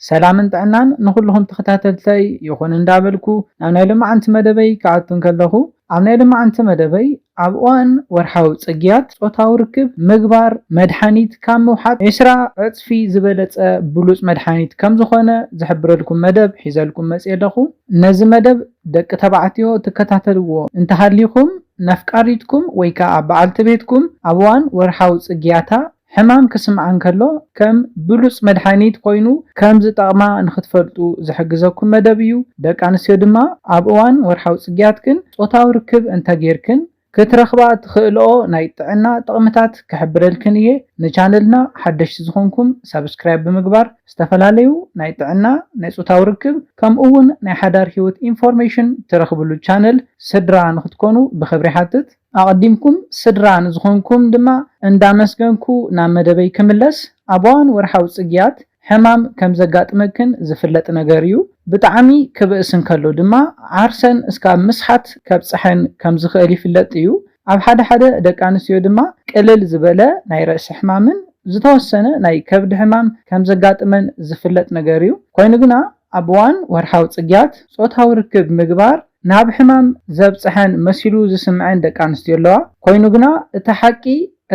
ሰላምን ጥዕናን ንኹሉኹም ተኸታተልተይ ይኹን እንዳበልኩ ናብ ናይ ሎማዓንቲ መደበይ ክኣቱ እንከለኹ ኣብ ናይ ሎማዓንቲ መደበይ ኣብ እዋን ወርሓዊ ጽግያት ጾታዊ ርክብ ምግባር መድሓኒት ካብ ምውሓጥ ዕስራ ዕጽፊ ዝበለጸ ብሉጽ መድሓኒት ከምዝኾነ ዝሕብረልኩም መደብ ሒዘልኩም መጽየ ኣለኹ ነዚ መደብ ደቂ ተባዕትዮ ትከታተልዎ እንተሃሊኹም ነፍቃሪትኩም ወይ ከኣ በዓልቲ ቤትኩም ኣብ እዋን ወርሓዊ ጽግያታ ሕማም ክስምዓን ከሎ ከም ብሉጽ መድሓኒት ኮይኑ ከም ዝጠቕማ ንኽትፈልጡ ዝሕግዘኩም መደብ እዩ። ደቂ ኣንስትዮ ድማ ኣብ እዋን ወርሓዊ ጽግያትክን ጾታዊ ርክብ እንተ ጌርክን ክትረኽባ እትኽእልኦ ናይ ጥዕና ጥቕምታት ክሕብረልክን እየ። ንቻነልና ሓደሽቲ ዝኾንኩም ሳብስክራይብ ብምግባር ዝተፈላለዩ ናይ ጥዕና፣ ናይ ጾታዊ ርክብ ከምኡ ውን ናይ ሓዳር ሂወት ኢንፎርሜሽን ትረኽብሉ ቻነል ስድራ ንኽትኮኑ ብኽብሪ ይሓትት። ኣቐዲምኩም ስድራ ንዝኾንኩም ድማ እንዳመስገንኩ ናብ መደበይ ክምለስ፣ ኣብ ኣዋን ወርሓዊ ጽግያት ሕማም ከም ዘጋጥመክን ዝፍለጥ ነገር እዩ። ብጣዕሚ ክብእስ እንከሎ ድማ ዓርሰን እስካብ ምስሓት ከብጽሐን ከም ዝኽእል ይፍለጥ እዩ። ኣብ ሓደ ሓደ ደቂ ኣንስትዮ ድማ ቅልል ዝበለ ናይ ርእሲ ሕማምን ዝተወሰነ ናይ ከብዲ ሕማም ከም ዘጋጥመን ዝፍለጥ ነገር እዩ። ኮይኑ ግና ኣብ እዋን ወርሓዊ ጽግያት ጾታዊ ርክብ ምግባር ናብ ሕማም ዘብጽሐን መሲሉ ዝስምዐን ደቂ ኣንስትዮ ኣለዋ። ኮይኑ ግና እቲ ሓቂ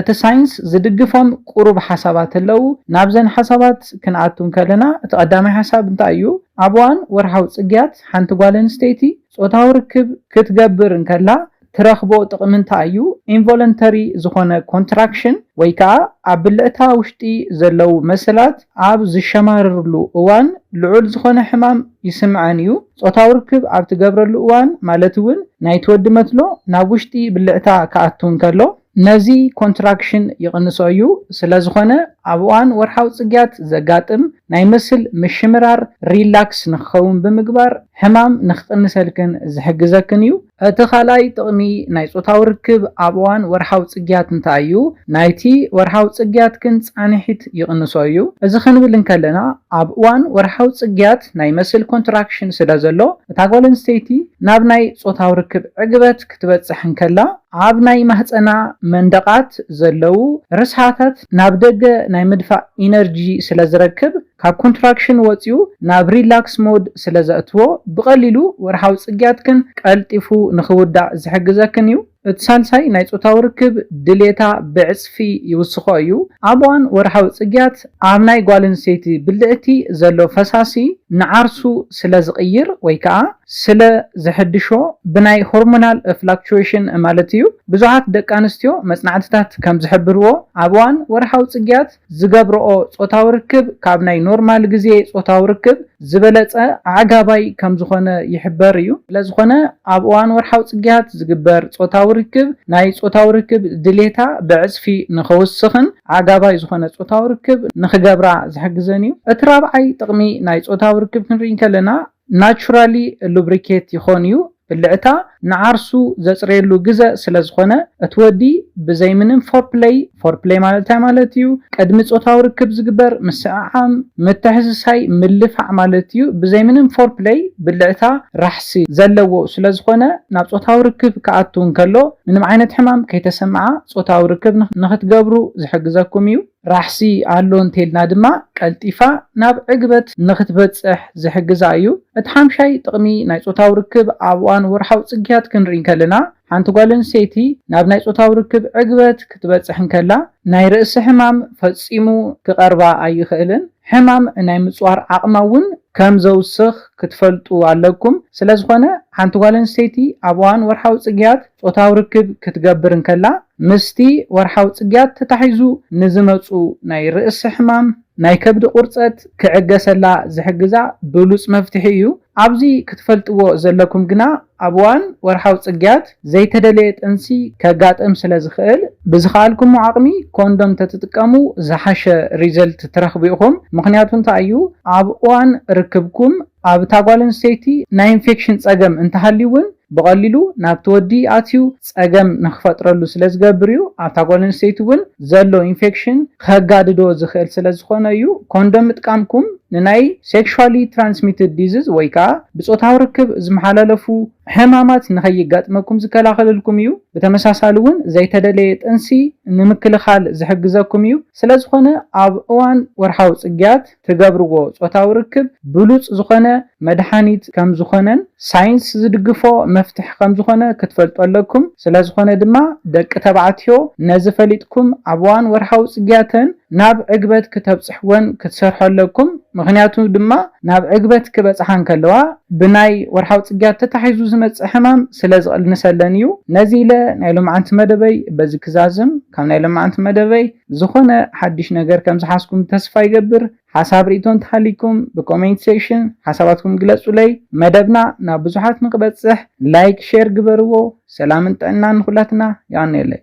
እቲ ሳይንስ ዝድግፎም ቁሩብ ሓሳባት ኣለው። ናብዘን ሓሳባት ክንኣቱ እንከለና እቲ ቀዳማይ ሓሳብ እንታይ እዩ? ኣብ እዋን ወርሓዊ ጽግያት ሓንቲ ጓል ኣንስተይቲ ጾታዊ ርክብ ክትገብር እንከላ ትረኽቦ ጥቕሚ እንታይ እዩ? ኢንቮለንተሪ ዝኾነ ኮንትራክሽን ወይ ከኣ ኣብ ብልዕታ ውሽጢ ዘለዉ መሰላት ኣብ ዝሸማረርሉ እዋን ልዑል ዝኾነ ሕማም ይስምዐን እዩ። ጾታዊ ርክብ ኣብ ትገብረሉ እዋን ማለት እውን ናይቲ ወዲ መትሎ ናብ ውሽጢ ብልዕታ ክኣቱ እንከሎ፣ ነዚ ኮንትራክሽን ይቕንሶ እዩ፣ ስለዝኾነ ኣብ እዋን ወርሓዊ ጽግያት ዘጋጥም ናይ መስል ምሽምራር ሪላክስ ንክኸውን ብምግባር ሕማም ንክቕንሰልክን ዝሕግዘክን እዩ። እቲ ካልኣይ ጥቕሚ ናይ ጾታዊ ርክብ ኣብ እዋን ወርሓዊ ጽግያት እንታይ እዩ? ናይቲ ወርሓዊ ጽግያትክን ጻንሒት ይቕንሶ እዩ። እዚ ክንብል እንከለና ኣብ እዋን ወርሓዊ ጽግያት ናይ መስል ኮንትራክሽን ስለዘሎ እታ ጓል ኣንስተይቲ ናብ ናይ ጾታዊ ርክብ ዕግበት ክትበጽሕ እንከላ፣ ኣብ ናይ ማህጸና መንደቓት ዘለዉ ርስሓታት ናብ ደገ ናይ ምድፋእ ኢነርጂ ስለ ዝረክብ፣ ካብ ኮንትራክሽን ወጺኡ ናብ ሪላክስ ሞድ ስለ ዘእትዎ፣ ብቐሊሉ ወርሓዊ ጽግያትክን ቀልጢፉ ንኽውዳእ ዝሕግዘክን እዩ። እቲ ሳልሳይ ናይ ጾታዊ ርክብ ድሌታ ብዕጽፊ ይውስኾ እዩ። ኣብ እዋን ወርሓዊ ጽግያት ኣብ ናይ ጓለንስተይቲ ብልዕቲ ዘሎ ፈሳሲ ንዓርሱ ስለ ዝቕይር ወይ ከኣ፣ ስለ ዘሐድሾ ብናይ ሆርሞናል ፍላክቹዌሽን ማለት እዩ። ብዙሓት ደቂ ኣንስትዮ መጽናዕትታት ከም ዝሕብርዎ ኣብ እዋን ወርሓዊ ጽግያት ዝገብርኦ ጾታዊ ርክብ ካብ ናይ ኖርማል ግዜ ጾታዊ ርክብ ዝበለጸ ኣዕጋባይ ከም ዝኾነ ይሕበር እዩ። ስለ ዝኾነ ኣብ እዋን ወርሓዊ ጽግያት ዝግበር ጾታዊ ርክብ ናይ ጾታዊ ርክብ ድሌታ ብዕጽፊ ንኸውስኽን ኣዕጋባይ ዝኾነ ጾታዊ ርክብ ንኽገብራ ዝሕግዘን እዩ። እቲ ራብዓይ ጥቕሚ ናይ ጾታዊ ርክብ ክንርኢ እንከለና፣ ናቹራሊ ሉብሪኬት ይኾን እዩ ብልዕታ ንዓርሱ ዘጽርየሉ ግዘ ስለ ዝኾነ እቲ ወዲ ብዘይ ምንም ፎርፕለይ ፎርፕለይ ማለት እንታይ ማለት እዩ ቅድሚ ጾታዊ ርክብ ዝግበር ምስዕዓም ምትሕስሳይ ምልፋዕ ማለት እዩ ብዘይ ምንም ፎርፕለይ ብልዕታ ራሕሲ ዘለዎ ስለ ዝኾነ ናብ ጾታዊ ርክብ ክኣቱ እንከሎ ምንም ዓይነት ሕማም ከይተሰምዓ ጾታዊ ርክብ ንኽትገብሩ ዝሕግዘኩም እዩ። ራሕሲ ኣሎ እንተልና ድማ ቀልጢፋ ናብ ዕግበት ንኽትበጽሕ ዝሕግዛ እዩ። እቲ ሓምሻይ ጥቕሚ ናይ ጾታዊ ርክብ ኣብ እዋን ወርሓዊ ጽግያት ክንርኢ እንከለና ሓንቲ ጓል ኣንስተይቲ ናብ ናይ ጾታዊ ርክብ ዕግበት ክትበጽሕ እንከላ ናይ ርእሲ ሕማም ፈጺሙ ክቐርባ ኣይኽእልን። ሕማም ናይ ምጽዋር ዓቕማ እውን ከም ዘውስኽ ክትፈልጡ ኣለኩም። ስለዝኾነ ሓንቲ ጓል ኣንስተይቲ ኣብ እዋን ወርሓዊ ጽግያት። ጾታዊ ርክብ ክትገብር እንከላ ምስቲ ወርሓዊ ጽግያት ተታሒዙ ንዝመጹ ናይ ርእሲ ሕማም፣ ናይ ከብዲ ቁርጸት ክዕገሰላ ዝሕግዛ ብሉጽ መፍትሒ እዩ። ኣብዚ ክትፈልጥዎ ዘለኩም ግና ኣብ እዋን ወርሓዊ ጽግያት ዘይተደለየ ጥንሲ ከጋጥም ስለ ዝኽእል ብዝኸኣልኩሞ ዓቕሚ ኮንዶም ተትጥቀሙ ዝሓሸ ሪዘልት ትረኽቡ ኢኹም። ምኽንያቱ እንታይ እዩ ኣብ እዋን ርክብኩም ኣብታ ጓል ኣንስተይቲ ናይ ኢንፌክሽን ጸገም እንተሃልዩ እውን ብቐሊሉ ናብቲ ወዲ ኣትዩ ጸገም ንኽፈጥረሉ ስለዝገብር እዩ። ኣብታ ጓል ኣንስተይቲ እውን ዘሎ ኢንፌክሽን ከጋድዶ ዝኽእል ስለዝኾነ እዩ። ኮንዶም ምጥቃምኩም ንናይ ሴክሹዋሊ ትራንስሚትድ ዲዝዝ ወይ ከኣ ብጾታዊ ርክብ ዝመሓላለፉ ሕማማት ንኸይጋጥመኩም ዝከላኸለልኩም እዩ። ብተመሳሳሊ እውን ዘይተደለየ ጥንሲ ንምክልኻል ዝሕግዘኩም እዩ። ስለዝኾነ ኣብ እዋን ወርሓዊ ጽግያት፣ ትገብርዎ ጾታዊ ርክብ ብሉጽ ዝኾነ መድሓኒት ከም ዝኾነን ሳይንስ ዝድግፎ መፍትሒ ከም ዝኾነ ክትፈልጡ ኣለኩም ስለ ዝኾነ ድማ ደቂ ተባዕትዮ ነዚ ፈሊጥኩም ኣብ እዋን ወርሓዊ ጽግያተን ናብ ዕግበት ክተብጽሕወን ክትሰርሑ ኣለኩም ምኽንያቱ ድማ ናብ ዕግበት ክበጽሓ እንከለዋ ብናይ ወርሓዊ ጽግያት ተታሒዙ ዝመጽእ ሕማም ስለ ዝቕንሰለን እዩ ነዚ ኢለ ናይ ሎምዓንቲ መደበይ በዚ ክዛዝም ካብ ናይ ሎምዓንቲ መደበይ ዝኾነ ሓድሽ ነገር ከም ዝሓዝኩም ተስፋ ይገብር ሓሳብ ሪኢቶ እንተሃልይኩም ብ ኮሜንት ሴክሽን ሓሳባትኩም ግለጹለይ መደብና ናብ ብዙሓት ንክበጽሕ ላይክ ሼር ግበርዎ ሰላምን ጥዕናን ንኹላትና የቀንየለይ።